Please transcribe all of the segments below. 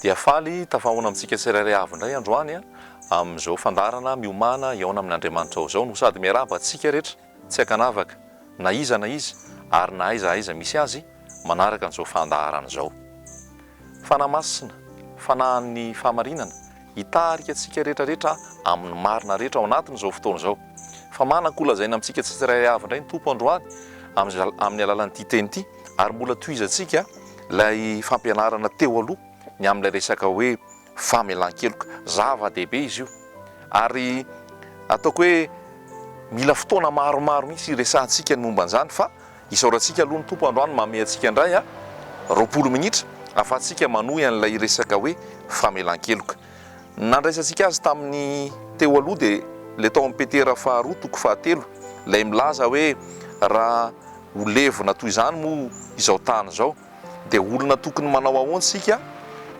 Dia faly tafahaona amintsika tsirairay avy indray androany amin'izao fandaharana miomana hihaona amin'Andriamanitra ao izao no sady miarahaba antsika rehetra Tsy ankanavaka, na iza na iza ary na aiza aiza misy azy, manaraka an'izao fandaharana izao. Fanahy Masina, Fanahin'ny fahamarinana, hitarika antsika rehetra rehetra amin'ny marina rehetra ao anatin'izao fotoana izao. Fa manan-ko lazaina amintsika tsirairay avy indray ny Tompo androany amin'ny alalan'ity teny ity ary mbola tohizantsika ilay fampianarana teo aloha ny amin'ilay resaka hoe famelan-keloka. Zava-dehibe izy io ary ataoko hoe mila fotoana maromaro mihitsy hiresahantsika ny momba an'izany fa isaorantsika aloha ny Tompo androany manome antsika indray roapolo minitra ahafahantsika manohy an'ilay resaka hoe famelan-keloka. Nandraisantsika azy tamin'ny teo aloha dia ilay tao amin'ny Petera faharoa toko fahatelo, ilay milaza hoe raha ho levona toy izany moa izao tany izao, dia olona tokony manao ahoana isika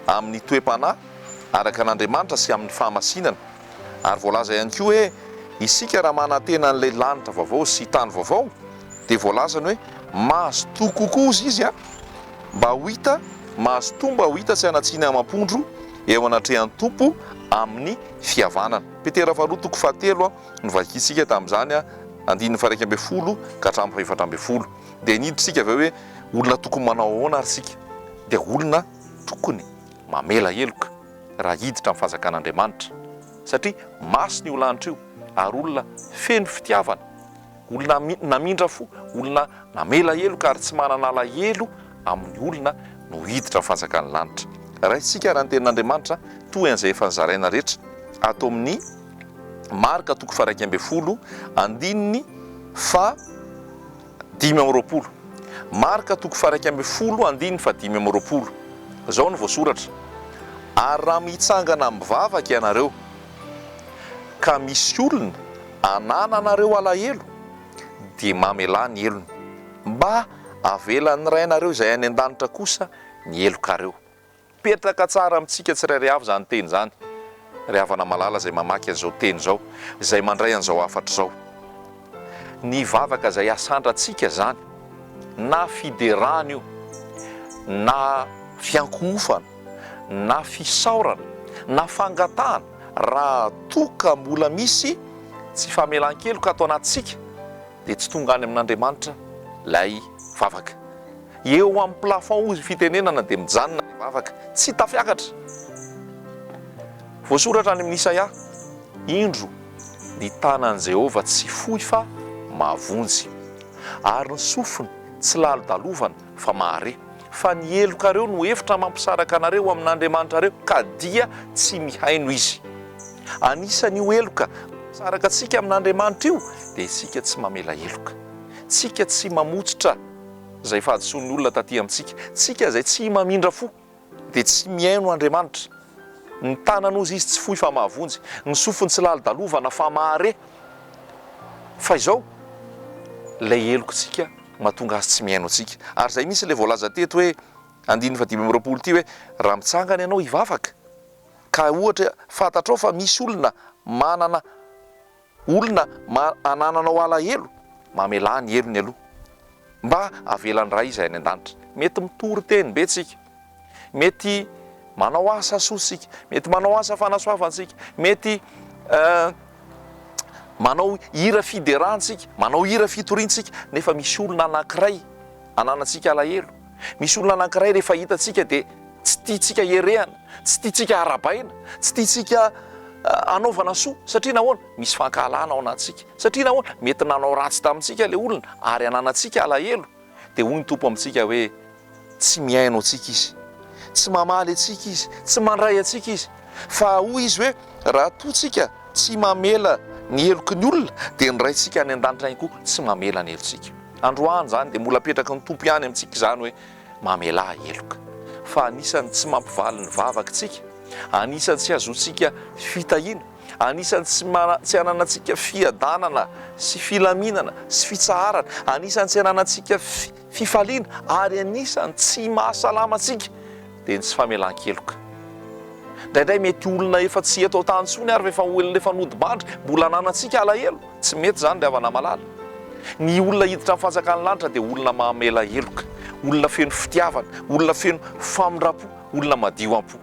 amin'ny toe-panahy araka an'Andriamanitra sy amin'ny fahamasinana? Ary voalaza ihany koa hoe isika raha manantena an'ilay lanitra vaovao sy tany vaovao dia voalazany hoe mazotoa kokoa ozy izy an mba ho hita mazotoa mba ho hita sy hanatsiny amam-pondro eo anatrehan'ny Tompo amin'ny fihavanana. Petera faharoa toko fahatelo no vakintsika tamin'izany andininy faha iraika ambin'ny folo ka hatramin'ny fahefatra ambin'ny folo. Dia niditra isika avy eo hoe olona tokony manao ahoana ary isika? Dia olona tokony mamela heloka raha hiditra amin'ny fanjakan'Andriamanitra, satria masina io lanitra io ary olona feno fitiavana, olona namindra fo, olona namela heloka ary tsy manana alahelo amin'ny olona no hiditra amin'ny fanjakan'ny lanitra. Raisintsika raha ny tenin'Andriamanitra toy an'izay efa nozaraina rehetra ato amin'ny Marka toko faharaika ambin'ny folo andininy faha. Dimy amby roapolo. Marka toko faha-iraika ambin'ny folo andininy fahadimy amby roapolo. Izao no voasoratra, Ary raha mitsangana mivavaka ianareo, ka misy olona anananareo alahelo, dia mamelà ny helony, mba havelan'ny Rainareo izay any an-danitra kosa ny helokareo. Mipetraka tsara amintsika tsirairay avy izany teny izany, ry havana malala izay mamaky an'izao teny izao, izay mandray an'izao hafatra izao. Ny vavaka izay hasandratsika izany, na fiderana io, na fiankohofana, na fisaorana, na fangatahana, raha toa ka mbola misy tsy famelan-keloka ato anatintsika, dia tsy tonga any amin'Andriamanitra ilay vavaka. Eo amin'ny plafond hozy fitenenana dia mijanona ny vavaka, tsy tafiakatra. Voasoratra any amin'ny Isaia, Indro, ny tanan'i Jehovah tsy fohy fa mahavonjy, ary ny sofiny tsy lalodalovana fa mahare, fa ny helokareo no efitra mampisaraka anareo amin'Andriamanitrareo, ka dia tsy mihaino izy. Anisan'io heloka mampisaraka antsika amin'Andriamanitra io dia isika tsy mamela heloka, isika tsy mamotsitra. Izay fahadisoan'ny olona taty amintsika. Tsika izay tsy mamindra fo, dia tsy mihaino Andriamanitra. Ny tanana ozy Izy tsy fohy fa mahavonjy, ny sofiny tsy lalodalovana fa mahare. Fa izao, ilay helokintsika mahatonga Azy tsy mihaino antsika. Ary izay mihitsy ilay voalaza teto hoe, andininy fahadimy amby roapolo ity hoe, Raha mitsangana ianao hivavaka, ka ohatra fantatrao fa misy olona manana Olona ma anananao alahelo, mamelà ny helony aloha. Mba avelan'ny Ray izay any an-danitra. Mety mitory teny be tsika. Mety manao asa soa tsika. Mety manao asa fanasoavantsika. Mety manao hira fideràntsika, manao hira fitoriantsika, nefa misy olona anankiray ananantsika alahelo. Misy olona anankiray rehefa hitantsika dia tsy tiantsika herehana, tsy tiantsika harabaina, tsy tiantsika hanaovana soa. Satria nahoana? Misy fankahalana ao anatintsika. Satria nahoana? Mety nanao ratsy tamintsika ilay olona ary ananantsika alahelo. Dia hoy ny Tompo amintsika hoe, Tsy mihaino antsika izy. Tsy mamaly antsika izy. Tsy mandray antsika izy. Fa hoy izy hoe, Raha toa tsika tsy mamela ny heloky ny olona, dia ny Raintsika any an-danitra ihany koa tsy mamela ny helotsika. Androany izany dia mbola apetraky ny Tompo ihany amintsika izany hoe mamelà heloka. Fa anisan'ny tsy mampivaly ny vavaka isika, anisan'ny tsy azotsika fitahiana, anisan'ny tsy tsy ananantsika fiadanana sy filaminana sy fitsaharana, anisan'ny tsy ananantsika fifaliana ary anisan'ny tsy mahasalama antsika dia ny tsy famelan-keloka. Indraindray mety olona efa tsy eto an-tany intsony ary efa olona efa nodimandry mbola ananantsika alahelo. Tsy mety izany ry havana malala. Ny olona hiditra ny fanjakan'ny lanitra dia olona mamela heloka, olona feno fitiavana, olona feno famindram-po, olona madio am-po.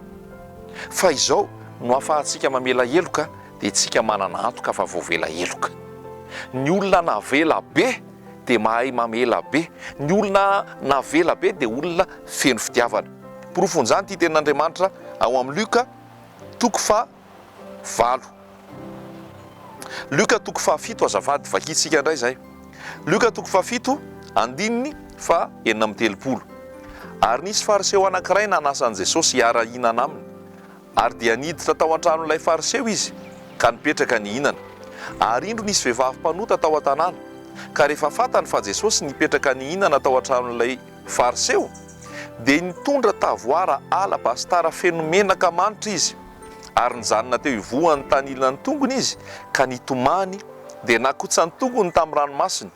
Fa izao no ahafahantsika mamela heloka dia isika manana antoka fa voavela heloka. Ny olona navela be. dia mahay mamela be. Ny olona navela be dia olona feno fitiavana. Porofon'izany ity tenin'Andriamanitra ao amin'ny Lioka toko faha valo. Lioka toko faha fito azafady, vakintsika indray izay. Lioka toko faha fito andininy faha enina amby telopolo. Ary nisy Fariseo anankiray nanasa an'i Jesosy hiara-hihinana aminy. Ary dia niditra tao an-tranon'ilay Fariseo izy ka nipetraka nihinana. Ary indro nisy vehivavy mpanota tao an-tanàna, ka rehefa fantany fa Jesosy nipetraka nihinana tao an-tranon'ilay Fariseo, dia nitondra tavoara alabasitara feno menaka manitra izy, ary nijanona teo ivohan'ny tanilan'ny tongony izy ka nitomany, dia nakotsan-tongony tamin'ny ranomasiny,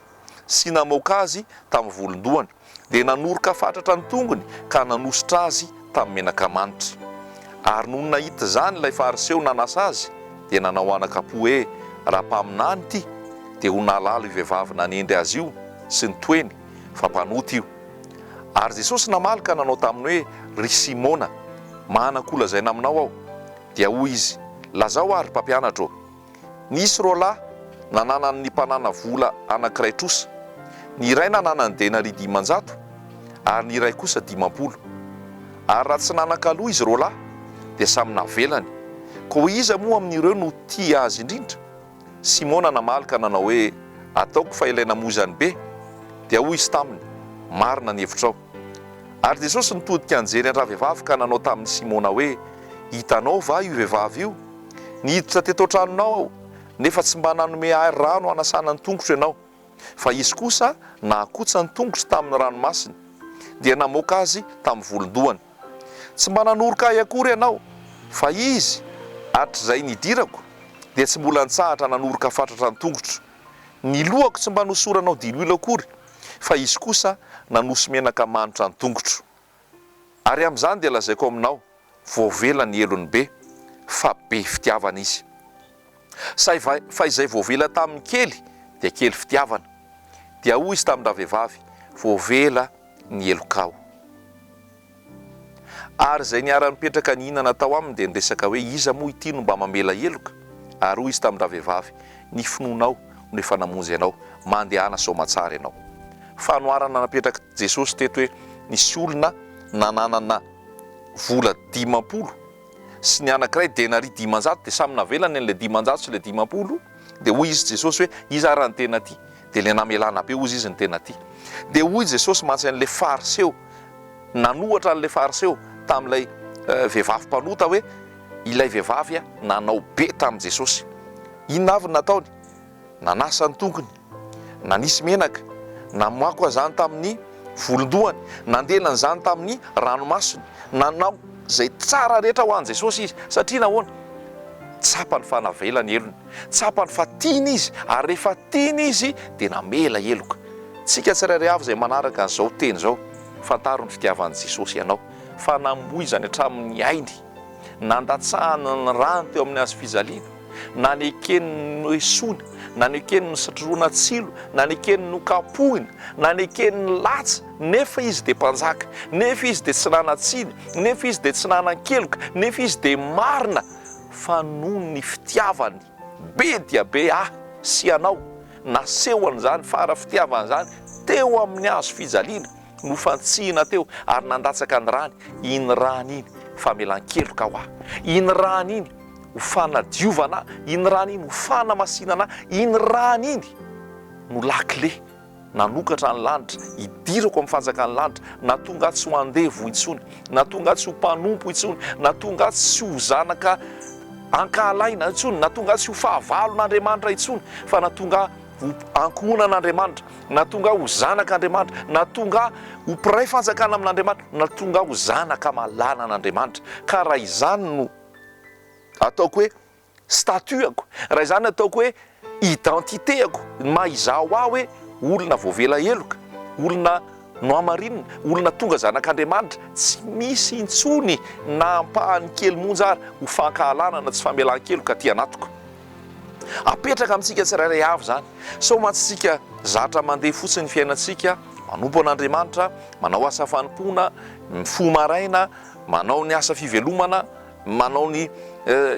sy namoaka azy tamin'ny volon-dohany. dia nanoroka fatratra ny tongony ka nanosotra azy tamin'ny menaka manitra. Ary nony nahita izany ilay Fariseo nanasa azy, dia nanao anaka-po hoe, Raha mpaminany ity, dia ho nahalala io vehivavy nanendry azy io sy ny toeny, fa mpanota io. Ary Jesosy namaly ka nanao taminy hoe, Ry Simona, manana kolazaina aminao aho. Dia hoy Izy, Lazao ahy, ry Mpampianatra ô. Nisy roa lahy nananan' ny mpanana vola anankiray trosa. Ny iray nanana ny denaria dimanjato ary ny iray kosa dimampolo. Ary raha tsy nanan-kaloa izy roa lahy, dia samy navelany. Koa iza moa amin' ireo no tia azy indrindra? Simona namaly ka nanao hoe, Ataoko fa ilay namoy izany be. Dia hoy izy taminy, Marina ny hevitrao. Ary Jesosy nitodika nijery an-dravehivavy ka nanao tamin' i Simona hoe, Hitanao va io vehivavy io? Niditra teto an-tranonao aho, nefa tsy mba nanome ahy rano hanasana ny tongotro ianao, fa izy kosa nahakotsa ny tongotro tamin'ny ranomasiny, dia namoaka azy tamin'ny volon-dohany. Tsy mba nanoroka ahy akory ianao, fa izy, hatrizay nidirako, dia tsy mbola nitsahatra nanoroka fatratra ny tongotro. Ny lohako tsy mba nosoranao diloilo akory, fa izy kosa nanosy menaka manitra ny tongotro. Ary amin'izany dia lazaiko aminao, voavela ny helony be, fa be fitiavana izy. Saiva fa izay voavela tamin'ny kely dia kely fitiavana, dia hoy izy tamin-dravehivavy, Voavela ny helokao. Ary izay niara-nipetraka nihinana tao aminy dia niresaka hoe, Iza moa ity no mba mamela heloka? Ary hoy izy tamin-dravehivavy, Ny finoanao, no efa namonjy anao, mandehana soamatsara ianao. Fanoharana napetrak'i Jesosy teto hoe nisy olona nananana vola dimampolo sy ny anankiray denaria dimanjato dia samy navelany an'ilay dimanjato sy ilay dimampolo dia hoy izy Jesosy hoe iza ary ny tena tia dia ilay namelana be hozy izy ny tena tia dia hoy Jesosy mantsy an'ilay fariseo nanohatra an'ilay fariseo tamin'ilay vehivavy mpanota hoe Ilay vehivavy nanao be tamin'i Jesosy. Inona avy no nataony? Nanasa ny tongony, nanisy menaka, namoakoa izany tamin'ny volon-dohany, nandelana izany tamin'ny ranomasony. Nanao izay tsara rehetra ho an'i Jesosy izy. Satria nahoana? Tsapany fa navela ny helony. Tsapany fa tiany izy, ary rehefa tiany izy, dia namela heloka. Isika tsirairay avy izay manaraka izao teny izao, fantaro ny fitiavan'i Jesosy anao, fa namoizany hatramin'ny ainy. nandatsahany ny rano teo amin'ny hazo fijaliana, nanekeny ny noesoina, nanekeny ny nosatrohana tsilo, nanekeny ny nokapohina, nanekeny ny latsa, nefa izy dia mpanjaka, nefa izy dia tsy nanan-tsiny, nefa izy dia tsy nanan-keloka, nefa izy dia marina, fa noho ny fitiavany be dia be ahy sy ianao, nasehony izany fara-fitiavany izany teo amin'ny hazo fijaliana, Nofantsihina teo ary nandatsaka ny rany iny rany iny famelan-keloka ho ahy iny rany iny ho fanadiovana ahy iny rany iny ho fanamasinana ahy iny rany iny no lakile nanokatra ny lanitra hidirako amin'ny fanjakan'ny lanitra na tonga aho tsy ho andevo intsony na tonga aho tsy ho mpanompo intsony na tonga aho tsy ho zanaka ankahalaina intsony na tonga aho tsy ho fahavalon'Andriamanitra intsony fa na tonga aho ho ankohonan'Andriamanitra, na tonga aho ho zanak'Andriamanitra, na tonga aho ho mpiray fanjakana amin'Andriamanitra, na tonga aho ho zanaka malala an'Andriamanitra. Ka raha izany no ataoko hoe statut-ako, raha izany no ataoko hoe identité-ako, ny maha izaho ahy hoe olona voavela heloka, olona nohamarinina, olona tonga zanak'Andriamanitra, tsy misy intsony na ampahany kely monja ary ho fankahalana na tsy famelan-keloka aty anatiko. Apetraka amintsika tsirairay avy izany. Sao mantsitsika zatra mandeha fotsiny ny fiainantsika, manompo an'Andriamanitra, manao asa fanompoana, mifoha maraina, manao ny asa fivelomana, manao ny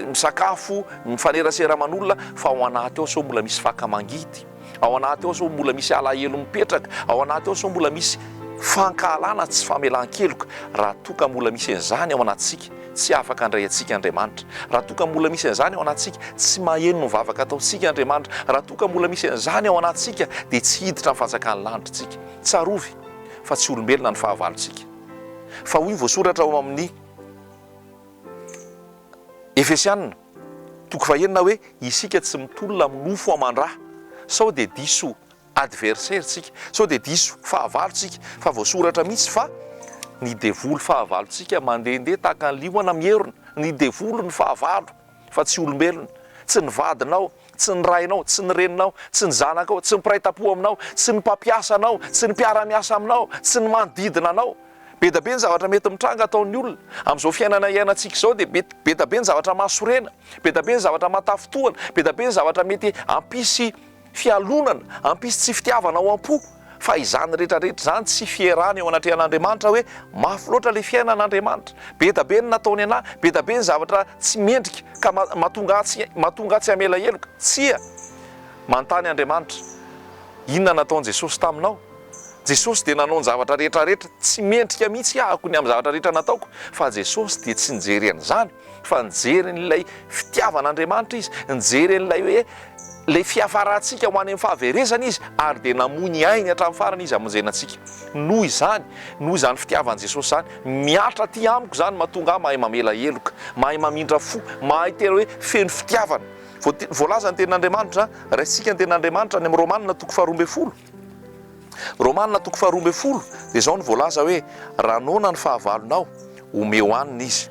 misakafo, mifanerasera aman'olona, fa ao anaty ao sao mbola misy faka mangidy. Ao anaty ao sao mbola misy alahelo mipetraka, ao anaty ao sao mbola misy fankahalana tsy famelan-keloka, raha toa ka mbola misy an'izany ao anatintsika, tsy afaka handray antsika Andriamanitra, raha toa ka mbola misy an'izany ao anatintsika, tsy maheno ny vavaka ataontsika Andriamanitra, raha toa ka mbola misy an'izany ao anatintsika, dia tsy hiditra amin'ny fanjakan'ny lanitra isika. Tsarovy fa tsy olombelona ny fahavalontsika. Fa hoy ny voasoratra ao amin'ny Efesiana. Toko fahenina hoe isika tsy mitolona amin'ny nofo aman-dra sao dia diso adversaire tsika, sao dia diso fahavalo tsika, fa voasoratra mihitsy fa ny devoly fahavalo tsika mandehandeha tahaka ny liona mierona, ny devoly ny fahavalo fa tsy olombelona, tsy ny vadinao tsy ny rainao, tsy ny reninao, tsy ny zanakao, tsy ny mpiray tampo aminao, tsy ny mpampiasa anao, tsy ny mpiara-miasa aminao, tsy ny manodidina anao. Be da be ny zavatra mety mitranga ataon'ny olona. Amin'izao fiainana iainantsika izao dia mety be da be ny zavatra mahasorena, be da be ny zavatra mahatafintohana, be da be ny zavatra mety hampisy fialonana, hampisy tsy fitiavana ao am-po. Fa izany rehetra rehetra izany tsy fierana eo anatrehan'Andriamanitra hoe mafy loatra ilay fiainana Andriamanitra, be da be ny nataony anah, be da be ny zavatra tsy mendrika ka mahatonga ahy tsy mahatonga ahy tsy hamela heloka, tsia! Manontany Andriamanitra, inona nataon'i Jesosy taminao? Jesosy dia nanao ny zavatra rehetra rehetra tsy mendrika mihitsy ahako ny amin'ny zavatra rehetra nataoko, fa Jesosy dia tsy nijery an'izany, Fa nijery an'ilay fitiavan'Andriamanitra izy, nijery an'ilay hoe ilay fiafarantsika ho any amin'ny fahaverezana izy, ary dia namoy ny ainy hatramin'ny farany izy hamonjena antsika. Noho izany, noho izany fitiavan'i Jesosy izany, mihatra aty amiko izany no mahatonga ahy mahay mamela heloka, mahay mamindra fo, mahay tena hoe feno fitiavana. Voalaza ny tenin'Andriamanitra, raisintsika ny tenin'Andriamanitra any amin'ny Romana toko faharoa ambin'ny folo. Romana toko faharoa ambin'ny folo dia izao no voalaza hoe, Raha noana ny fahavalonao, omeo hanina izy.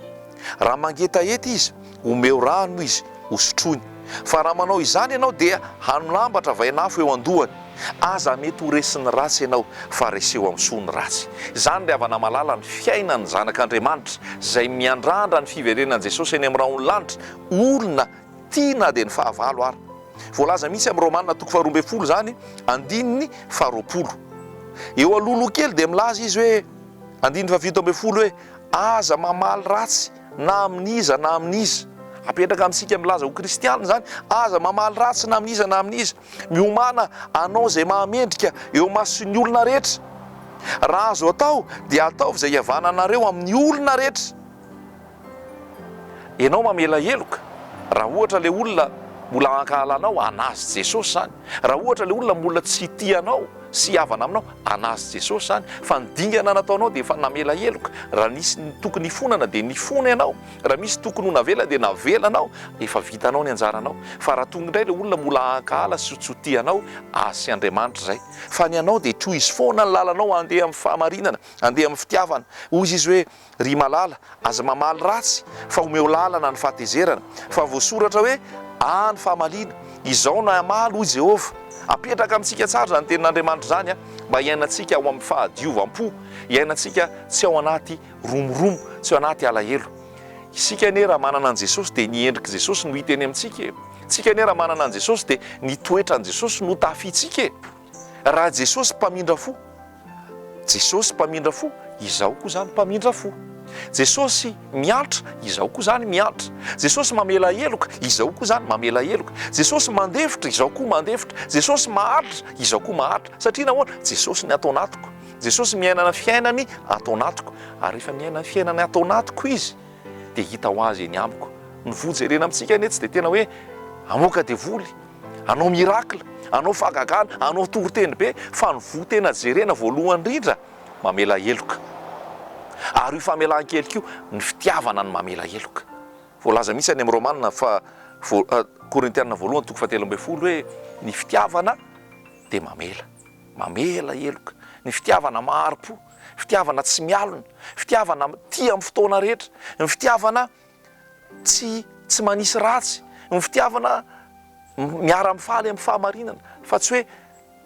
Raha mangetaheta izy, omeo rano izy hosotroiny. Fa raha manao izany ianao dia hano lamba travain'afo eo an-dohany. Aza mety ho resin'ny ratsy ianao, fa reseo amin'ny soa ny ratsy. Izany ry havana malala ny fiainan'ny zanak'Andriamanitra izay miandrandra ny fiverenan'i Jesosy eny amin'ny rahon'ny lanitra, olona Tia na dia ny fahavalo ara. Voalaza mihitsy amin'ny Romana toko faharoa ambin'ny folo izany, andininy faharoapolo. Eo alohaloha kely dia milaza izy hoe, andininy fahafito ambin'ny folo hoe, Aza mamaly ratsy na amin'iza na amin'iza. Apetraka amintsika milaza ho kristiana izany, aza mamaly ratsy na amin'iza na amin'iza. Miomàna hanao izay mahamendrika eo imason'ny olona rehetra. Raha azo atao dia ataovy izay hihavananareo amin'ny olona rehetra. Enao mamela heloka, raha ohatra ilay olona mbola hankahala anao, hanazy Jesosy izany. Raha ohatra ilay olona mbola tsy hitia anao sy hihavana aminao, hanazy Jesosy izany. Fa ny dingana nataonao dia efa namela heloka. Raha nisy tokony hifonana dia nifona ianao, raha misy tokony ho navela dia navelanao, efa vitanao ny anjaranao. Fa raha tonga indray ilay olona mbola hankahala sy tsy ho tia anao, azy sy Andriamanitra izay. Fa ny anao dia trohizo foana ny lalanao, andeha amin'ny fahamarinana, andeha amin'ny fitiavana. Hoy izy hoe, Ry malala, aza mamaly ratsy fa omeo lalana ny fahatezerana, fa voasoratra hoe aa ny fahamaliana, izao no hamaly hoy Jehovah. Apetraka amintsika tsara izany tenin'Andriamanitra izany, mba hiainantsika ao amin'ny fahadiovam-po, hiainantsika tsy ao anaty romoromo, tsy ao anaty alahelo. Isika anie raha manana an'i Jesosy dia ny endrik'i Jesosy no hita eny amintsika e! Isika anie raha manana an'i Jesosy dia ny toetran'i Jesosy no tafintsika e! Raha Jesosy mpamindra fo, Jesosy mpamindra fo, izaho koa izany mpamindra fo. Jesosy miantra, izaho koa izany miantra. Jesosy mamela heloka, izaho koa izany mamela heloka. Jesosy mandefitra, izaho koa mandefitra. Jesosy maharitra, izaho koa maharitra. Satria nahoana? Jesosy ny ato anatiko. Jesosy miaina ny fiainany ato anatiko. Ary rehefa miaina ny fiainany ato anatiko Izy, dia hita ho Azy eny amiko. Ny voa jerena amintsika anie tsy dia tena hoe hamoaka devoly, Hanao miracle, hanao fahagagana, hanao toriteny be fa ny voa tena jerena voalohany indrindra, mamela heloka. Ary io famelan-keloka io, ny fitiavana no mamela heloka. Voalaza mihitsy any amin'ny Romana fa, Korintiana voalohany toko fahatelo ambin'ny folo hoe, ny fitiavana dia mamela, mamela heloka, ny fitiavana mahari-po, fitiavana tsy mialona, fitiavana tia amin'ny fotoana rehetra, ny fitiavana tsy tsy manisy ratsy, ny fitiavana miara-mifaly amin'ny fahamarinana fa tsy hoe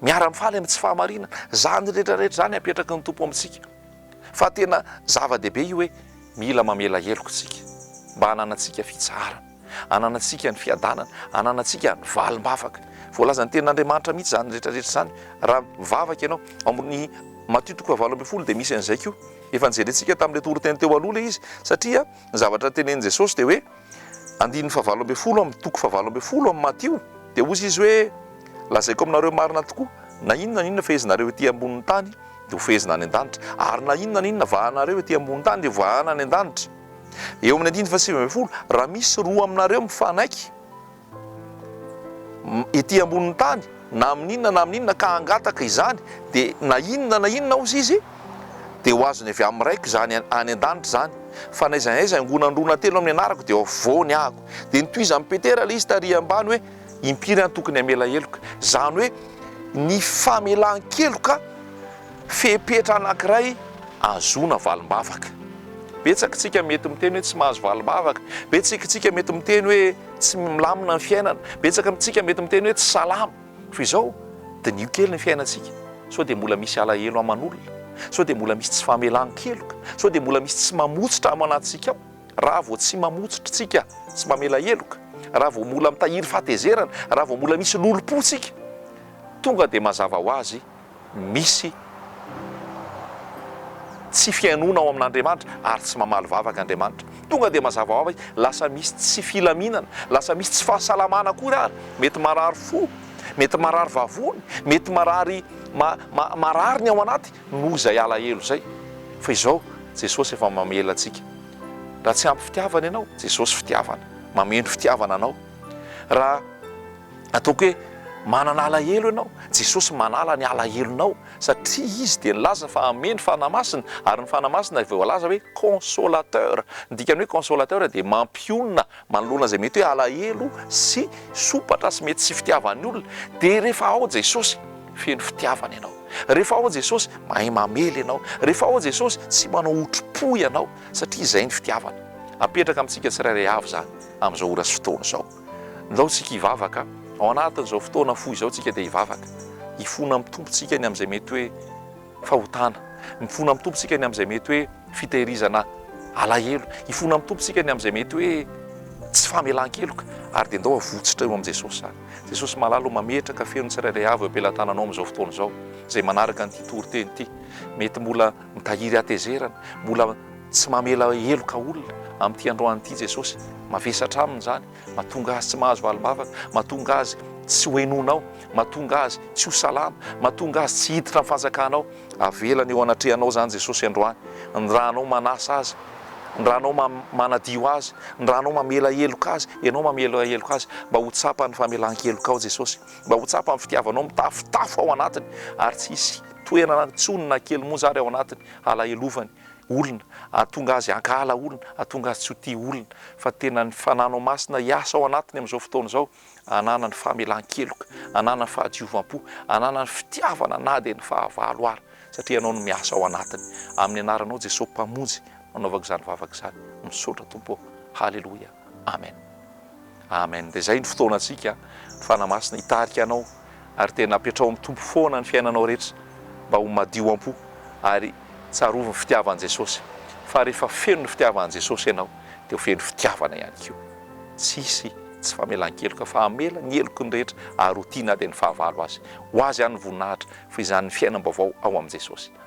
miara-mifaly amin'ny tsy fahamarinana, izany rehetra rehetra izany apetraky ny Tompo amintsika fa tena zava-dehibe io hoe mila mamela heloka isika mba hananantsika fitsaharana, hananantsika ny fiadanana, hananantsika ny valim-bavaka, voalazan'ny tenin'Andriamanitra mihitsy izany rehetra rehetra izany raha mivavaka ianao, ao amin'ny Matio toko fahavalo ambin'ny folo dia misy an'izay koa, efa nojerentsika tamin'ilay toriteny teo aloha ilay izy satria Ny zavatra tenenin'i Jesosy dia hoe, andininy fahavalo ambin'ny folo amin'ny toko fahavalo ambin'ny folo amin'ny Matio, dia hozy Izy hoe, Lazaiko aminareo marina tokoa, na inona na inona fehezinareo ety ambonin'ny tany dia ho fehezina any an-danitra, ary na inona na inona vahanareo ety ambonin'ny tany dia ho vahana any an-danitra. Eo amin'ny andininy fahasivy ambin'ny folo, Raha misy roa aminareo mifanaiky, ety ambonin'ny tany na amin'ny inona na amin'ny inona ka hangataka izany dia na inona na inona ozy izy dia ho azony avy amin'ny Raiko izany any an-danitra izany fa na aiza na aiza angonandrona telo amin'ny anarako dia hovoany ahako dia notohizan'i Petera ilay izy tary ambany hoe impiry aho no tokony hamela heloka izany hoe ny famelan-keloka Fepetra anankiray ahazoana valim-bavaka. Betsakitsika mety miteny hoe tsy mahazo valim-bavaka. Betsikitsika mety miteny hoe tsy milamina ny fiainana. Betsaka amintsika mety miteny hoe tsy salama. Toy izao, diniho kely ny fiainantsika. Sao dia mbola misy alahelo aman'olona? Sao dia mbola misy tsy famelan-keloka? Sao dia mbola misy tsy mamotsitra ao anatintsika ao? Raha vao tsy mamotsitra tsika, tsy mamela heloka, raha vao mbola mitahiry fahatezerana, raha vao mbola misy lolompo tsika, tonga dia mazava ho azy Misy tsy fihainoana ao amin'Andriamanitra ary tsy mamaly vavaka Andriamanitra. Tonga dia mazava ho avy, lasa misy tsy filaminana, lasa misy tsy fahasalamana akory ary. Mety marary fo, mety marary vavony, mety marary marary ny ao anaty noho izay alahelo izay. Fa izao Jesosy efa mamela antsika. Raha tsy ampy fitiavana ianao, Jesosy fitiavana, mameno fitiavana anao. Raha Ataoko hoe manana alahelo ianao. Jesosy manala ny alahelonao satria Izy dia nilaza fa hanome ny Fanahy Masina, ary ny Fanahy Masina dia voalaza hoe Consolateur. Ny dikan'ny hoe Consolateur dia mampionona manoloana izay mety hoe alahelo sy sompatra sy mety tsy fitiavan'ny olona. Dia rehefa ao Jesosy, feno fitiavana ianao. Rehefa ao Jesosy, mahay mamely ianao. Rehefa ao Jesosy, tsy manao otrim-po ianao, satria izay ny fitiavana. Apetraka amintsika tsirairay avy izany, amin'izao ora sy fotoana izao. Ndao tsika hivavaka, ao anatin'izao fotoana fohy izao tsika dia hivavaka, hifona amin'ny Tompo tsika ny amin'izay mety hoe fahotana, mifona amin'ny Tompo tsika ny amin'izay mety hoe fitehirizana alahelo, hifona amin'ny Tompo tsika ny amin'izay mety hoe tsy famelan-keloka, ary dia ndao avotsitra eo amin'i Jesosy izany. Jesosy malala o, mametraka feo ny tsirairay avy eo am-pelatananao amin'izao fotoana izao, izay manaraka an'ity toriteny ity, mety mbola. Mitahiry hatezerana, mbola tsy mamela heloka olona. Amin'ity androany ity Jesosy mavesatra aminy izany, mahatonga azy tsy mahazo valim-bavaka, mahatonga azy tsy ho henoinao, mahatonga azy tsy ho salama, mahatonga azy tsy hiditra amin'ny fanjakanao. Avelany eo anatrehanao izany Jesosy androany, ny raha anao manasa azy, ny raha anao manadio azy, ny raha anao mamela heloka azy, ianao mamela heloka azy, mba ho tsapany ny famelan-kelokao Jesosy. Mba ho tsapan'ny fitiavanao mitafotafo ao anatiny, ary tsy hisy toerana intsony na kely monja ary ao anatiny halahelovany olona, hahatonga azy hankahala olona, hahatonga azy tsy ho tia olona, fa tena ny Fananao Masina hiasa ao anatiny amin'izao fotoana izao, hananany famelan-keloka, hananany fahadiovam-po, hananany fitiavana na dia ny fahavalo ary, satria Ianao no miasa ao anatiny. Amin'ny Anaranao Jesosy Mpamonjy no nanaovako izany vavaka izany. Misaotra Tompo ô. Haleloia. Amen Amen de zay ny fotoanantsika ny Fanahy Masina hitarika anao ary tena apetraho amin'ny Tompo foana ny fiainanao rehetra mba ho madio am-po ary tsarovy ny fitiavan'i Jesosy fa rehefa feno ny fitiavan'i Jesosy ianao de ho feno fitiavana ihany koa tsy hisy tsy famelan-keloka fa hamela ny heloky ny rehetra ary ho tia na dia ny fahavalo azy ho azy ihany ny voninahitra fa izany ny fiainam-baovao ao amin'i Jesosy